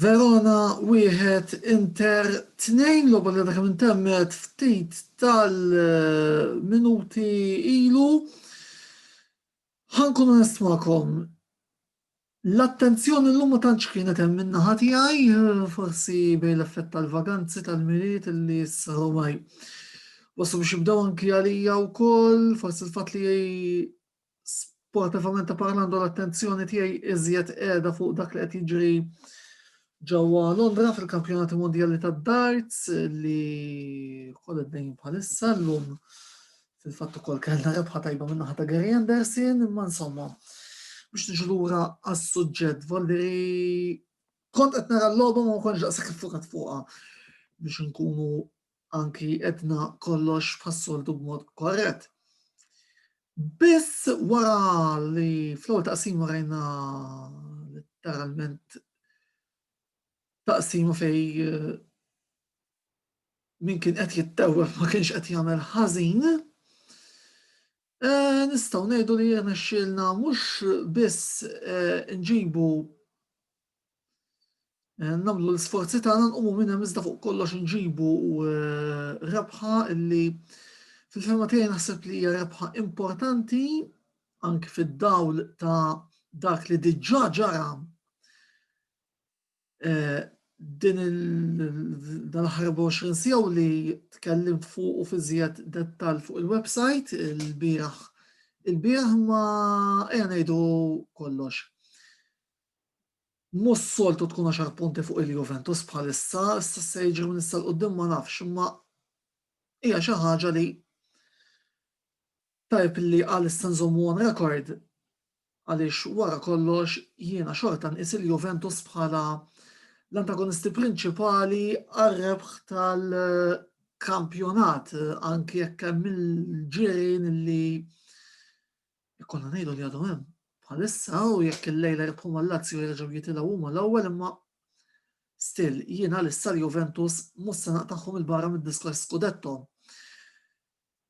Verona wieħed Inter tnejn logħba li għadha kemm intemmet ftit tal-minuti ilu. Ħankun onest magħkom, L-attenzjoni l-lum ma tantx kienet hemm minna ħati għaj, forsi bej l-effett tal-vaganzi tal-miliet li s-saru maj. Wasu biex jibdaw anki għalija u koll, forsi l-fat li sportivament parlando l-attenzjoni tiegħi iżjed qiegħda fuq dak li qed jiġri ġewwa Londra fil-Kampjonati Mondjali tad-Darts li wkoll id-dejn bħalissa llum fil-fatt ukoll kellna rebħa tajba minn ta' Gary Anderson, imma insomma biex niġu lura għas-suġġett Valderi kont qed nara l-logħba ma konx daqshekk fukat fuqha biex nkunu anki edna kollox bħas-soltu b'mod korrett. Biss wara li fl-ewwel taqsima rajna letteralment taqsima fej eh, min kien qed jittewwef ma kienx qed jagħmel ħażin, eh, nistgħu ngħidu li jirnexxielna mhux biss eh, nġibu Eh, namlu l-sforzi tagħna nqumu minn hemm iżda fuq kollox inġibu eh, rebħa illi fil-fema tiegħi naħseb li hija rebħa importanti anki fid-dawl ta' dak li diġà ġara eh, din il-ħar 24 sija u li tkellim fuq u fiżjed dettal fuq il-website il-biraħ il-biraħ ma ejja ngħidu kollox. Mhux s-soltu tkun għaxar punti fuq il-Juventus bħalissa, issa se jiġri minn issa 'l quddiem ma nafx, imma hija xi ħaġa li tajjeb li għalissa nżommu on record għaliex wara kollox jiena xorta nqis il-Juventus bħala l-antagonisti prinċipali għar-rebħ tal-kampjonat anki jekk hemm il-ġirien li Ikollna ngħidu li għadhom hemm bħalissa u jekk il-lejla jibħu mal-Lazio jerġgħu jitilgħu huma l-ewwel imma still jiena għalissa l-Juventus mhux se naqtagħhom il-barra mid-diskors Scudetto.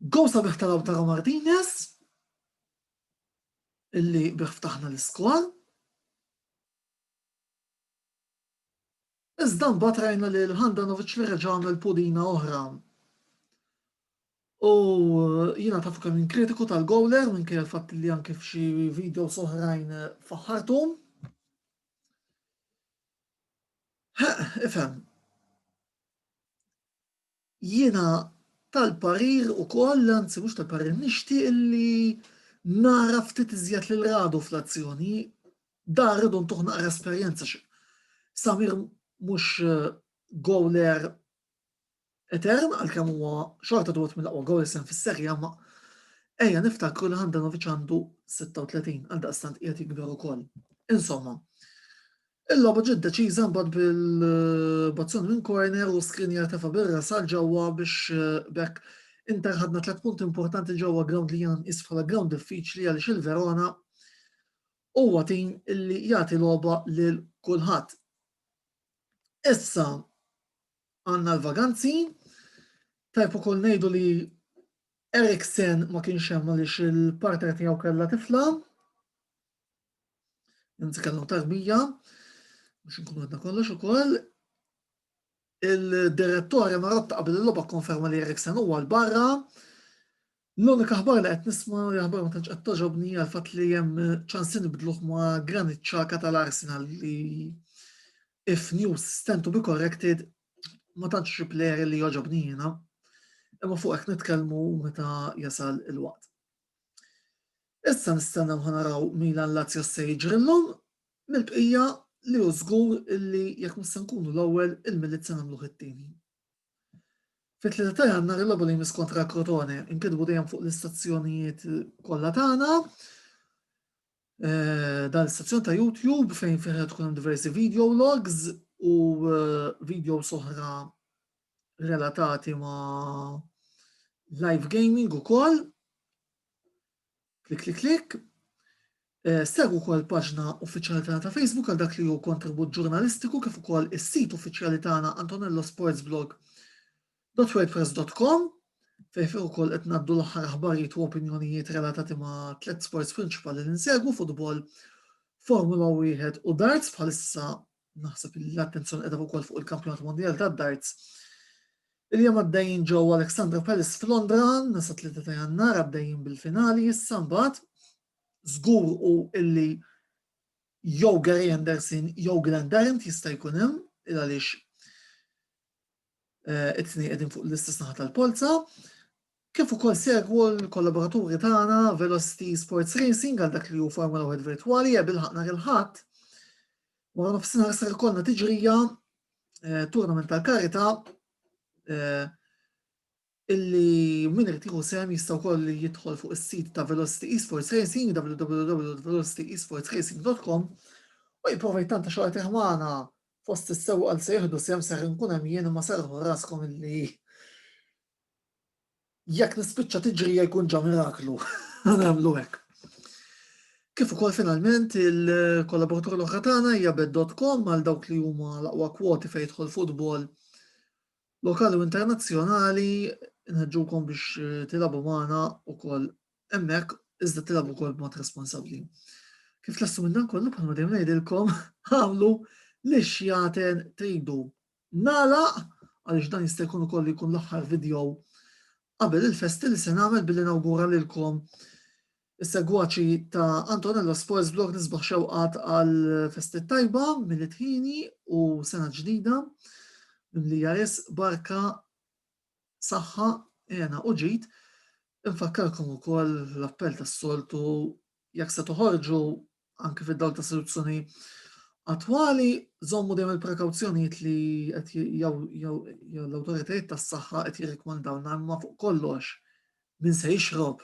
Gow sabiħ ta' Lautaro Martinez illi bih ftaħna l-iskor. Iżda mbagħad rajna li l-Handanovic li reġa' għamel pulina oħra. U jiena tafu kemm jien kritiku tal-gowler minkejja l-fatt li anke f'xi videos oħrajn faħħartu. Ifhem. Jiena tal-parir ukoll, anzi mhux tal-parir, nixtieq li nara ftit iżjed lil Radu fl-azzjoni. Dan rridu ntuh naqra esperjenza għax Samir mhux gowler etern għalkemm huwa xorta wieħed mill-aqwa gowlers hemm fis-Serje A, ma ejja niftakru li Handanovic għandu 36 għaldaqstant qiegħed jikber ukoll. Insomma, Il-logħba ġiet deċiża mbagħad bil-bazzun minn corner u skrinjar tefa' bir-ras għal ġewwa biex b'hekk Inter ħadna tliet punti importanti ġewwa grawnd li jiena nqis bħala grawnd diffiċli għaliex il-Verona huwa tim li jagħti logħba lil kulħadd. Issa għandna l-vaganzi, tajb ukoll ngħidu li Eriksen ma kienx hemm għaliex il-partner tiegħu kellha tifla. Nitkellmu tal-mija, biex nkunu għadna kollox ukoll, il-direttori ma rotta qabel il-loba konferma li Eriksen huwa l-barra. L-unika ħbar li qed nisma' li ħbar ma tantx qed toġobni għal fatt li hemm ċansin bidluħ ma' Granit Xhaka tal-Arsenal li if news stand to be corrected ma tantx xi player li joġobni jiena. Imma fuq hekk nitkellmu meta jasal il-waqt. Issa nistennew ħa naraw Milan Lazio se jiġri llum, mill-bqija li hu żgur illi jekk mhux se nkunu l-ewwel, il-Milied se nagħmluh it-tieni. Fit-Tlieta ta' Jannar il-logħba li jmiss kontra Crotone nkitbu dejjem fuq l-istazzjonijiet kollha tagħna. Eh, dan l-istazzjon ta' YouTube fejn fih tkun hemm diversi video logs u eh, video soħra relatati ma live gaming u koll. Klik, klik, klik. Eh, Segu kol paġna uffiċjali tagħna ta' Facebook għal dak li hu kontribut ġurnalistiku kif ukoll is-sit uffiċjali tagħna Antonello Sports Blog www.wordpress.com fejn fejn ukoll qed ngħaddu l-aħħar aħbarijiet u opinjonijiet relatati ma' tliet sports prinċipali li nsegwu futbol, Formula 1 u darts bħalissa naħseb li l-attenzjoni qiegħda wkoll fuq il-Kampjonat Mondjal tad-Darts. Il-jum għaddejjin ġew Alexandra Palace f'Londra, nasa 3 ta' jannar għaddejjin bil-finali, issa mbagħad żgur u illi jew Gary Anderson jew Glenn Tarrant jista' jkun hemm il għaliex eh, it-tnejn qegħdin fuq l-istess naħa tal-polza, kif ukoll segwu l-kollaboraturi tagħna Velocity Sports Racing għal dak li hu Formula 1 virtwali jeb il-ħaqna il-ħadd. Wara nofsinhar ser ikollna tiġrija eh, tournament tal-karita eh, illi min irid jieħu sehem jista' wkoll jidħol fuq is-sit ta' Velocity Esports Racing, www.velocityesportsracing.com, u jipprova jittanta xi qagħtih magħna fost is-sewwqa li se jieħdu sehem, ser inkun hemm jien imma serrħu raskom illi jekk nispiċċa tiġrija jkun ġa miraklu, nagħmlu hekk. Kif ukoll finalment il-kollaboratur l-oħra tagħna hija bet.com għal dawk li huma l-aqwa kwoti fejn jidħol futbol lokali u internazzjonali nħeġġukom biex tilagħbu magħna wkoll hemmhekk iżda tilagħbu wkoll b'mod responsabbli. Kif tlassu minn dan kollu bħalma dejjem ngħidilkom għamlu li xjaten tridu. Nala għaliex dan jista' jkun ukoll jkun l-aħħar video qabel il-festi li se nagħmel billi nawgura lilkom Is-segwaċi ta' Antonella Sports Blog nisbaħ xewqat għal festi tajba minn it-ħini u sena ġdida li jaris barka saħħa jena u ġid Infakkarkom ukoll l-appell tas-soltu jekk se toħorġu anke fid-dawl ta' soluzzjoni attwali, żommu dejjem il-prekawzjonijiet li qed l-awtoritajiet tas-saħħa qed jirrikmandawna imma fuq kollox min se jixrob